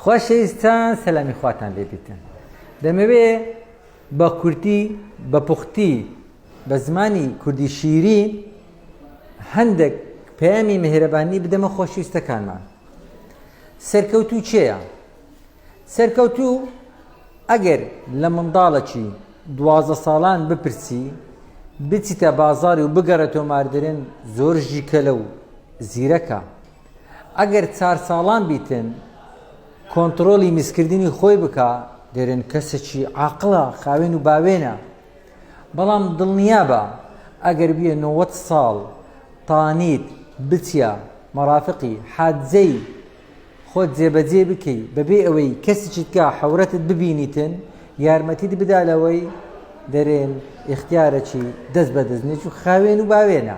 خۆشەویستان سەلامی خواتان لێبیتن دەمەوێ بە کورتی بە پوختی بە زمانی کوردی شیری هەندێک پەیامی مهرەبانی بدەمە خۆشویستەکانمان سەرکەوتو چێە سەرکەوتو ئەگەر لە منداڵەکی دوازە ساڵان بپرسی بچیتە بازاری و بگەڕێتەوە ماردرێن زۆر ژیکەلە و زیرەکە ئەگەر چار ساڵان بیتن کۆنتڕۆلی میزکردنی خۆی بکا دەرێن کەسەکی عاقڵە خاوێن و باوێنە بەڵام دڵنیابە ئەگەر بیە نۆوەت ساڵ تانیت بچە مەرافقی حادزەی خۆت جێبەجێ بکەی بەبێ ئەوەی کەسیچیتکە حورەتت ببینیتن یارمەتیت بدا لەوەی دەرێن ئختیارەکی دەست بەدەستنێک و خاوێن و باوێنە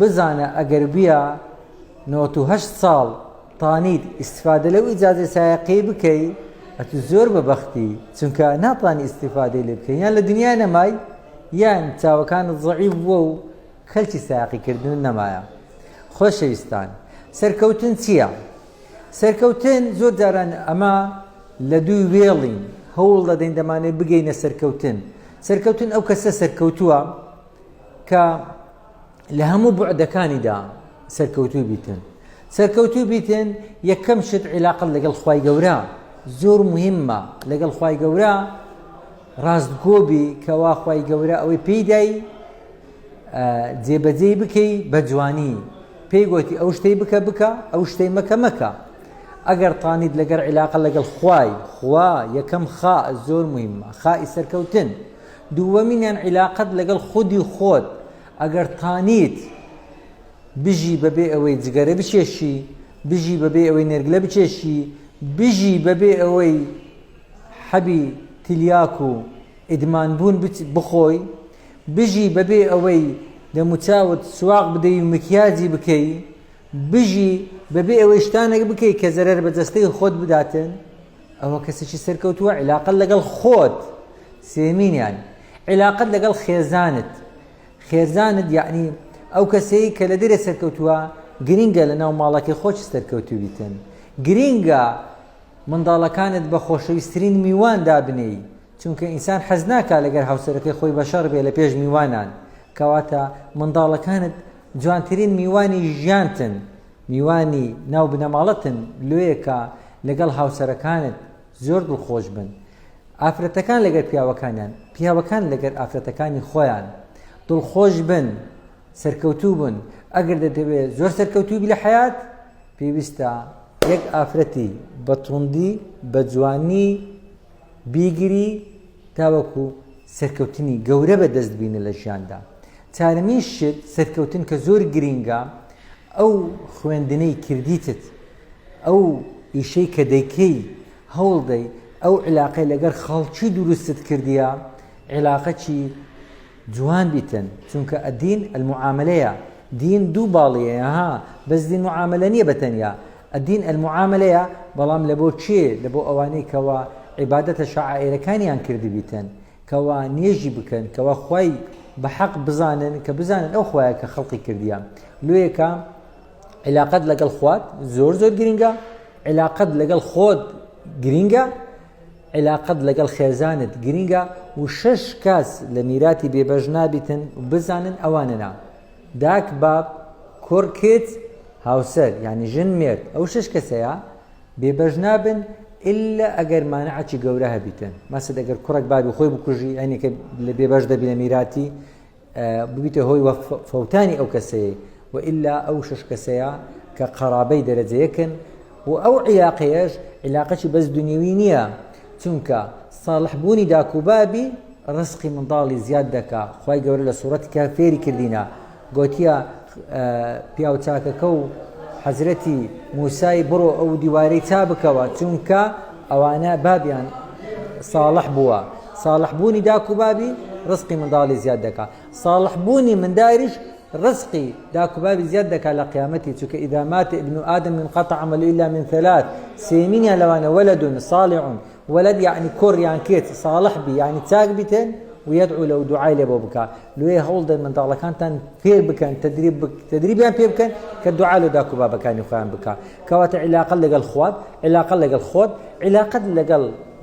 بزانە ئەگەر بیا نۆت و هەشت ساڵ تانیت ئیسفادە لەو ئیجازە سایقی بکەی ئەتو زۆر بە بەختی چونکە ناتانی ئیسیفادەی لێ بکەین یان لە دنیا نەمای یان چاوەکانت زعیف بووە و کەلکی ساقیکردن نەمایە خۆشەویستان سەرکەوتن چییە؟ سەرکەوتن زۆر جاران ئەمە لە دووی وێڵین هەوڵ دەدەین دەمانێت بگەینە سەرکەوتن سەرکەوتن ئەو کەسە سەرکەوتووە کە لە هەموو بعدەکانیدا سەرکەوتوو بیتن سەرکەوتوو بیتن یەکەم شت عیلاقل لەگەڵ خی گەورە زۆر مهمە لەگەڵ خی گەورە ڕاستگۆبی کەوا خی گەورە ئەوەی پێیدای جێبەجێی بکەی بە جوانی پێی گوتی ئەو شتەی بکە بکە ئەو شتەی مەکە مەکە ئەگەر تانیت لەگەر عیلاقە لەگەڵ خوای خوا یەکەم خا زۆر مهمە خای سەرکەوتن دووەمینیان عیلاقەت لەگەڵ خودی خۆت ئەگەر تانیت بژی بەبێ ئەوەی جگەرە بچێشی بژی بەبێ ئەوەی نێرگلە بچێشی بژی بەبێ ئەوەی حەبی تلیاک و ئیدمان بوون بخۆی بژی بەبێ ئەوەی دەموچاوت سواق بدەی و مکیاجی بکەی بژی بەبێ ئەوەی شتانێک بکەی کە زەرەر بە جەستەی خۆت بداتن ئەوە کەسێکی سەرکەوتووە عیلاقەت لەگەڵ خۆت سێمینیان عیلاقەت لەگەڵ خێزانت خێزانت یعنی ئەو کەسەیە کە لە دەرێ سەرکەوتووە گرنگە لە ناو ماڵەکەی خۆش سەرکەوتو بیتن گرنگە منداڵەکانت بە خۆشەویستترین میوان دابنێی چونکە ئینسان حەز ناکا لەگەر هاوسەرەکەی خۆی بەشەڕ بێ لە پێش میوانان کەواتە منداڵەکانت جوانترین میوانی ژیانتن میوانی ناو بنەماڵەتن لۆیەکە لەگەڵ هاوسەرەکانت زۆر دڵخۆش بن ئافرەتەکان لەگەر پیاوەکانیان پیاوەکان لەگەر ئافرەتەکانی خۆیان دڵخۆش بن سەرکەوتوو بن ئەگەر دەدەوێت زۆر سەرکەوتوبی لە حیات پێویستە یەک ئافرەتی بە توندی بە جوانی بیگری تاوەکو سەرکەوتنی گەورە بەدەست بینە لە ژیاندا چارەمین شت سەرکەوتن کە زۆر گرینگە ئەو خوێندنەی کردیتت ئەو ئیشەی کە دەیکەی هەوڵدەی ئەو علاقەی لەگەر خەڵکی دروستت کردیە عێلاقەکی جوان بیتن چونکە الدین المعاملەیە دین دوو باڵیەیە ها بەس دین معاملە نییە بەتەنیا الدین المعاملەیە بەڵام لە بۆ کێ لە بۆ ئەوانەی کەوا عیبادەتە شعائرەکانیان کردبیتن کەوا نوێژی بکەن کەوا خوای بە حەق بزانن کە بزانن ئەو خوایە کە خەڵقی کردیان لۆیەکە علااقت لەگەڵ خوات زۆر زۆر گرنگە علااقت لەگەڵ خۆت گرنگە عیلاقەت لەگەڵ خێزانت گرینگە و شەش کەس لە میراتی بێبەش نابیتن و بزانن ئەوانەنا، داک، باب، کوڕ، کچ، هاوسەر، یانی ژن، مێرد، ئەو شەش کەسەیا بێبەش نابن ئیللا ئەگەر مانعەکی گەورە هەبیتن، مەسەد ئەگەر کوڕەک بابی خۆی بکوژی ئەینەکە بێبەش دەبی لە میراتی ببیتە هۆی وە فەوتانی ئەو کەسەیە و ئللا ئەو شش کەسەیە کە قەرابەی دەرەجەیەکن و ئەو عیلاقەیەش عیلاقەی بەس دنیوی نییە چونکە ساڵح بوونی داکوبابی ڕسقی منداڵی زیاد دەکا خی گەورە لە سوورەت کە فێری کردینە گوتیە پیاوچاکەکە و حەزرەتی موسای بڕۆ ئەو دیوارەی چا بکەوە چونکە ئەوانە بابیان ساڵح بووە ساڵح بوونی داک و بابی ڕزقی منداڵی زیاد دەکا ساڵح بوونی منداریش ڕزقی داک و بابی زیاد دەکا لە قیامەتی چونکە ئیدا مات ابن آدم من قطع عمل الا من ثلاث سێمینیان لەوانە ولد صالح ولد یعنی کوڕ یان کێت ساڵح بی یعنی چاک بیتن ویدعو لەو دوعای لێ بۆ بکە لێ هەوڵدەن منداڵەکانتان فێر بکەن تدریب تدریبیان پێ بکەن کە دوعا لە داکو بابەکانی خۆیان بکە کەواتە عیلاقە لەگەڵ خوات عیلاقە لەگەڵ خۆت عیلاقەت لەگەڵ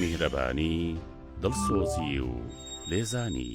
میهرەبانی دڵسۆزی و لێزانی